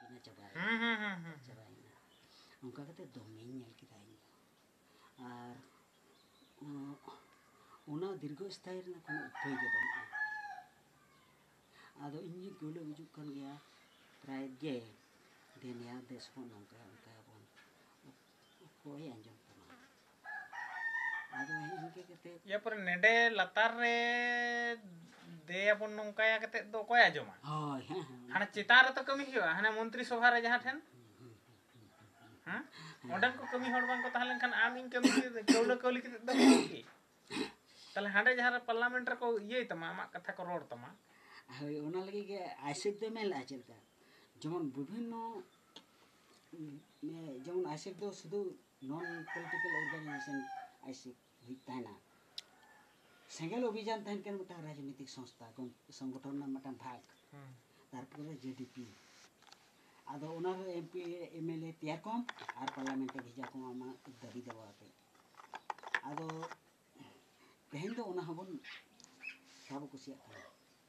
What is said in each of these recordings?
ᱤᱱᱟᱹ ᱪᱟᱵᱟᱭᱮᱱᱟ ᱦᱮᱸ ᱦᱮᱸ ᱦᱮᱸ ᱦᱮᱸ ᱪᱟᱵᱟᱭᱮᱱᱟ ᱚᱱᱠᱟ ᱠᱟᱛᱮ ᱫᱚᱢᱮᱧ ᱧᱮᱞ ᱠᱮᱫᱟ ᱤᱧ ᱫᱚ ᱟᱨ ᱩᱱ- ᱚᱱᱟ ᱫᱤᱨᱜᱷᱚ ᱥᱛᱷᱟᱭᱤ ᱨᱮᱱᱟᱜ ᱠᱳᱱᱳ ᱩᱯᱟᱹᱭ ᱜᱮ ᱵᱟᱹᱱᱩᱜᱼᱟ ᱟᱫᱚ ᱤᱧ ᱜᱮ ᱜᱩᱞᱟᱹ ᱜᱩᱡᱩᱜ ᱠᱟᱱ ᱜᱮᱭᱟ ᱯᱨᱟᱭ ᱜᱮ ᱫᱮᱱᱮᱭᱟ ᱫᱮᱥ ᱵᱚᱱ ᱱᱚᱝᱠᱟᱭᱟ ᱚᱱᱠᱟᱭᱟᱵᱚᱱ ᱚᱠᱚᱭ ᱟᱸᱡᱚᱢ ᱛᱟᱢᱟ ᱟᱫᱚ ᱤᱱᱠᱟᱹ ᱠᱟᱛᱮ ᱤᱭᱟᱹ ᱯᱚᱨᱮ ᱱᱮᱰᱮ ᱞᱟᱛᱟᱨ ᱨᱮ ᱫᱮᱭᱟᱵᱚᱱ ᱱᱚᱝᱠᱟᱭᱟ ᱠᱟᱛᱮ ᱫᱚ ᱚᱠᱚᱭ ᱟᱸᱡᱚᱢᱟ ᱦᱳᱭ ᱦᱮᱸ ᱦᱮᱸ ᱦᱟᱱᱮ ᱪᱮᱛᱟᱱ ᱨᱮᱛᱚ ᱠᱟᱹᱢᱤ ᱦᱩᱭᱩᱜᱼᱟ ᱦᱟᱱᱮ ᱢᱚᱱᱛᱨᱤ ᱥᱚᱵᱷᱟ ᱨᱮ ᱡᱟᱦᱟᱸ ᱴᱷᱮᱱ ᱦᱮᱸ ᱚᱸᱰᱮᱱ ᱠᱚ ᱠᱟᱹᱢᱤ ᱦᱚᱲ ᱵᱟᱝᱠᱚ ᱛᱟᱦᱮᱸ ᱞᱮᱱᱠᱷᱟᱱ ᱟᱢ ᱤᱧ ᱠᱟᱹᱢᱤ ᱠᱟᱹᱣᱞᱟᱹ ᱠᱟᱹᱣᱞᱤ ᱠᱟᱛᱮ ᱫᱚ ᱠᱤ ᱛᱟᱦᱞᱮ ᱦᱟᱸᱰᱮ ᱡᱟᱦᱟᱸ ᱨᱮ ᱯᱟᱨᱞᱟᱢᱮᱱᱴ ᱨᱮᱠᱚ ᱤᱭᱟᱹᱭ ᱛᱟᱢᱟ ᱟᱢᱟᱜ ᱠᱟᱛᱷᱟ ᱠᱚ ᱨᱚᱲ ᱛᱟᱢᱟ ᱦᱳᱭ ᱚᱱᱟ ᱞᱟᱹᱜᱤᱫ ᱜᱮ ᱟᱭᱥᱮᱯ ᱫᱚ ᱢᱮᱱ ᱞᱮᱫᱼᱟ ᱪᱮᱫ ᱞᱮᱠᱟ ᱡᱮᱢᱚᱱ ᱵᱤᱵᱷᱤᱱᱱᱚ ᱡᱮᱢᱚᱱ ᱟᱭᱥᱮᱠ ᱫᱚ ᱥᱩᱫᱩ ᱱᱚᱱ ᱯᱚᱞᱤᱴᱤᱠᱟᱞ ᱚᱨᱜᱟᱱᱟᱭᱡᱮᱥᱚᱱ ᱟᱭᱥᱮᱠ ᱦᱩᱭᱩᱜ ᱛᱟᱦᱮᱱᱟ ᱥᱮᱸᱜᱮᱞ ᱚᱵᱷᱤᱡᱟᱱ ᱛᱟᱦᱮᱱ ᱠᱟᱱᱟ ᱢᱤᱫᱴᱟᱝ ᱨᱟᱡᱽᱱᱤᱛᱤᱠ ᱥᱚᱝᱥᱛᱷᱟ ᱥᱚᱝᱜᱚᱴᱷᱚᱱ ᱨᱮᱱᱟᱜ ᱢᱤᱫᱴᱟᱝ ᱵᱷᱟᱜᱽ ᱛᱟᱨᱯᱚᱨᱮ ᱡᱮ ᱰᱤ ᱯᱤ ᱟᱫᱚ ᱚᱱᱟ ᱨᱮ M P M L A ᱛᱮᱭᱟᱨ ᱠᱚᱢ ᱟᱨ ᱯᱟᱨᱞᱟᱢᱮᱱᱴ ᱨᱮ ᱵᱷᱮᱡᱟ ᱠᱚᱢ ᱟᱢᱟᱜ ᱫᱟᱹᱵᱤ ᱫᱟᱵᱟ ᱟᱛᱮ ᱟᱫᱚ ᱛᱮᱦᱮᱧ ᱫᱚ ᱚᱱᱟ ᱦᱚᱸᱵᱚᱱ ᱵᱟᱵᱚ ᱠᱩᱥᱤᱭᱟᱜ ᱠᱟᱱᱟ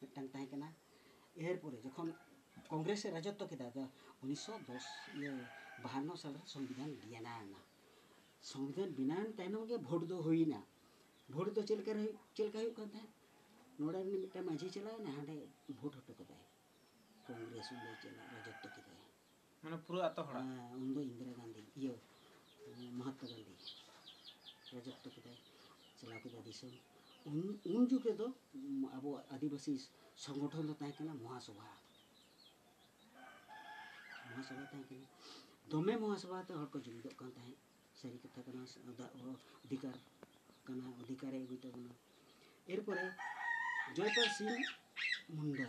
ᱢᱤᱫᱴᱟᱝ ᱛᱟᱦᱮᱸ ᱠᱟᱱᱟ ᱮᱨ ᱯᱚᱨᱮ ᱡᱚᱠᱷᱚᱱ ᱠᱚᱝᱜᱨᱮᱥ ᱮ ᱨᱟᱡᱚᱛᱛᱚ ᱠᱮᱫᱟ ᱫᱚ ᱩᱱᱤᱥᱥᱚ ᱫᱚᱥ ᱤᱭᱟᱹ ᱵᱟᱦᱟᱱᱱᱚ ᱥᱟᱞᱨᱮ ᱥᱚᱝᱵᱤᱫᱷᱟᱱ ᱵᱮᱱᱟᱣᱮᱱᱟ ᱥᱚᱝᱵᱤᱫᱷᱟᱱ ᱵᱮᱱᱟᱣᱮᱱ ᱛᱟᱭᱱᱚᱢ ᱜᱮ ᱵᱷᱳᱴ ᱫᱚ ᱦᱩᱭᱱᱟ ᱵᱷᱳᱴ ᱫᱚ ᱪᱮᱫ ᱞᱮᱠᱟ ᱪᱮᱫ ᱞᱮᱠᱟ ᱦᱩᱭᱩᱜ ᱠᱟᱱ ᱛᱟᱦᱮᱸᱫ ᱱᱚᱰᱮ ᱨᱤᱱᱤᱡ ᱢᱤᱫᱴᱟᱝ ᱢᱟᱺᱡᱷᱤ ᱪᱟᱞᱟᱣᱮᱱᱟ ᱦᱟᱸᱰᱮ ᱵᱷᱳᱴ ᱦᱚᱴᱚ ᱠᱟᱫᱟᱭ ᱠᱚᱝᱜᱨᱮᱥ ᱚᱸᱰᱮ ᱪᱟᱞᱟᱣ ᱨᱟᱡᱚᱛᱛᱚ ᱠᱮᱫᱟᱭ ᱢᱟᱱᱮ ᱯᱩᱨᱟᱹ ᱟᱛᱳ ᱦᱚᱲᱟᱜ ᱦᱮᱸ ᱩᱱᱫᱚ ᱤᱱᱫᱤᱨᱟ ᱜᱟᱱᱫᱷᱤ ᱤᱭᱟᱹ ᱢᱚᱦᱟᱛᱢᱟ ᱜᱟᱱᱫᱷᱤ ᱨᱟᱡᱚᱛᱛᱚ ᱠᱮᱫᱟᱭ ᱪᱟᱞᱟᱣ ᱠᱮᱫᱟ ᱫᱤᱥᱚᱢ ᱩᱱ ᱩᱱ ᱡᱩᱜᱽ ᱨᱮᱫᱚ ᱟᱵᱚ ᱟᱹᱫᱤᱵᱟᱹᱥᱤ ᱥᱚᱝᱜᱚᱴᱷᱚᱱ ᱫᱚ ᱛᱟᱦᱮᱸ ᱠᱟᱱᱟ ᱢᱚᱦᱟᱥᱚᱵᱷᱟ ᱢᱚᱦᱟᱥᱚᱵᱷᱟ ᱛᱟᱦᱮᱸ ᱠᱟᱱᱟ ᱫᱚᱢᱮ ᱢᱚᱦᱟᱥᱚᱵᱷᱟ ᱛᱮ ᱦᱚᱲ ᱠᱚ ᱡᱩᱢᱤᱫᱚᱜ ᱠᱟᱱ ᱛᱟᱦᱮᱸᱫ ᱥᱟᱹᱨᱤ ᱠᱟᱛᱷᱟ ᱠᱟᱱᱟ ᱚᱫᱷᱤᱠᱟᱨ ᱠᱟᱱᱟ ᱚᱫᱷᱤᱠᱟᱨᱮ ᱟᱹᱜᱩᱭ ᱛᱟᱵᱚᱱᱟ ᱮᱨᱯᱚᱨᱮ ᱡᱚᱭᱯᱟᱞ ᱥᱤᱝ ᱢᱩᱱᱰᱟ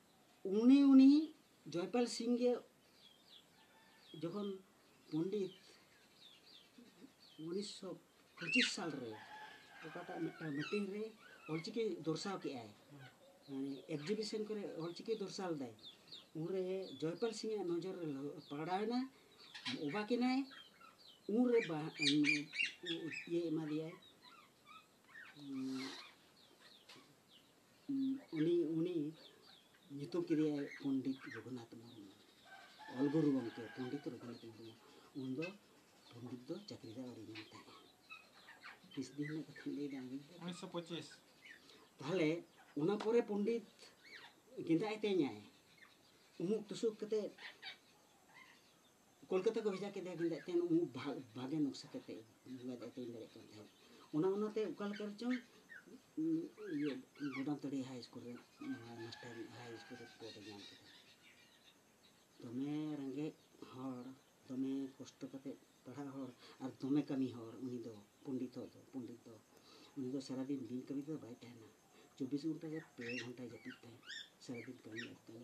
ᱩᱱᱤ ᱩᱱᱤ ᱡᱚᱭᱯᱟᱞ ᱥᱤᱝ ᱜᱮ ᱡᱚᱠᱷᱚᱱ ᱯᱚᱱᱰᱤᱛ ᱩᱱᱤᱥᱥᱚ ᱯᱚᱸᱪᱤᱥ ᱥᱟᱞ ᱨᱮ ᱚᱠᱟᱴᱟᱜ ᱢᱤᱫᱴᱟᱝ ᱢᱤᱴᱤᱝ ᱨᱮ ᱚᱞᱪᱤᱠᱤ ᱫᱚᱨᱥᱟᱣ ᱠᱮᱜᱼᱟᱭ ᱢᱟᱱᱮ ᱮᱠᱡᱤᱵᱤᱥᱚᱱ ᱠᱚᱨᱮ ᱚᱞᱪᱤᱠᱤ ᱫᱚᱨᱥᱟᱣ ᱞᱮᱫᱟᱭ ᱩᱱᱨᱮ ᱡᱚᱭᱯᱟᱞ ᱥᱤᱝ ᱟᱜ ᱱᱚᱡᱚᱨ ᱨᱮ ᱯᱟᱲᱟᱣᱮᱱᱟ ᱚᱵᱟᱠ ᱮᱱᱟᱭ ᱩᱱᱨᱮ ᱤᱭᱟᱹ ᱮᱢᱟ ᱫᱮᱭᱟᱭ ᱩᱱᱤ ᱩᱱᱤ ᱧᱩᱛᱩᱢ ᱠᱮᱫᱮᱭᱟᱭ ᱯᱚᱱᱰᱤᱛ ᱨᱚᱜᱷᱩᱱᱟᱛᱷ ᱢᱩᱨᱢᱩ ᱚᱞ ᱜᱩᱨᱩ ᱜᱚᱢᱠᱮ ᱯᱚᱱᱰᱤᱛ ᱨᱚᱜᱷᱩᱱᱟᱛᱷ ᱢᱩᱨᱢᱩ ᱩᱱ ᱫᱚ ᱯᱚᱱᱰᱤᱛ ᱫᱚ ᱪᱟᱹᱠᱨᱤ ᱫᱚ ᱟᱹᱣᱨᱤ ᱧᱟᱢ ᱛᱟᱦᱮᱸᱫ ᱛᱤᱥ ᱫᱤᱱ ᱨᱮᱱᱟᱜ ᱠᱟᱛᱷᱟ ᱞᱟᱹᱭ ᱫᱟ ᱩᱱᱤᱥᱥᱚ ᱯᱚᱸᱪᱤᱥ ᱛᱟᱦᱚᱞᱮ ᱚᱱᱟ ᱯᱚᱨᱮ ᱯᱚᱱᱰᱤᱛ ᱜᱮᱸᱫᱟᱜ ᱮ ᱛᱮᱧᱟᱭ ᱩᱢᱩᱠ ᱛᱩᱥᱩᱠ ᱠᱟᱛᱮ ᱠᱳᱞᱠᱟᱛᱟ ᱠᱚ ᱵᱷᱮᱡᱟ ᱠᱮᱫᱮᱭᱟ ᱠᱤᱱᱛᱩ ᱟᱡ ᱛᱮᱦᱮᱧ ᱩᱢᱩᱠ ᱵᱷᱟᱜᱮ ᱱᱚᱠᱥᱟ ᱠᱟᱛᱮ ᱵᱟᱭ ᱫᱟᱭ ᱛᱮᱧ ᱫᱟᱲᱮᱭᱟᱜ ᱠᱟᱱ ᱛᱟᱦᱮᱸᱫ ᱚᱱᱟ ᱚᱱᱟᱛᱮ ᱚᱠᱟ ᱞᱮᱠᱟ ᱨᱮᱪᱚᱝ ᱤᱭᱟᱹ ᱜᱚᱰᱟᱢᱛᱟᱹᱲᱤ ᱦᱟᱭ ᱥᱠᱩᱞ ᱨᱮ ᱢᱟᱥᱴᱟᱨ ᱦᱟᱭ ᱥᱠᱩᱞ ᱨᱮ ᱯᱚᱫᱮ ᱧᱟᱢ ᱠᱮᱫᱟ ᱫᱚᱢᱮ ᱨᱮᱸᱜᱮᱡ ᱦᱚᱲ ᱫᱚᱢᱮ ᱠᱚᱥᱴᱚ ᱠᱟᱛᱮ ᱯᱟᱲᱦᱟᱜ ᱦᱚᱲ ᱟᱨ ᱫᱚᱢᱮ ᱠᱟᱹᱢᱤ ᱦᱚᱲ ᱩᱱᱤ ᱫᱚ ᱯᱚᱱᱰᱤᱛ ᱫᱚ ᱯᱚᱱᱰᱤᱛ ᱫᱚ ᱩᱱᱤ ᱫᱚ ᱥᱟᱨᱟᱫᱤᱱ ᱵᱤᱱ ᱠᱟᱹᱢᱤ ᱛᱮᱫᱚ ᱵᱟᱭ ᱛᱟᱦᱮᱱᱟ ᱪᱚᱵᱵᱤᱥ ᱜᱷᱚᱱᱴᱟ ᱜᱮ ᱯᱮ ᱜᱷᱚᱱᱴᱟᱭ ᱡᱟᱹᱯᱤᱫ ᱛᱟᱦᱮᱸᱫ ᱥᱟᱨᱟᱫᱤᱱ ᱠᱟᱹᱢᱤ ᱟᱨ ᱠᱟᱹᱢᱤ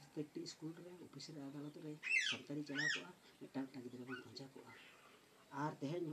ᱯᱨᱚᱛᱮᱠᱴᱤ ᱥᱠᱩᱞ ᱨᱮ ᱚᱯᱷᱤᱥ ᱨᱮ ᱟᱫᱟᱞᱚᱛ ᱨᱮ ᱥᱚᱨᱠᱟᱨᱤ ᱪᱟᱞᱟᱣ ᱠᱚᱜᱼᱟ ᱢᱤᱫᱴᱟᱝ ᱢᱤᱫᱴᱟᱝ ᱜᱤᱫᱽᱨᱟᱹ ᱵᱚᱱ ᱯᱟᱸᱡᱟ ᱠᱚᱜᱼᱟ ᱟᱨ ᱛᱮᱦᱮᱧ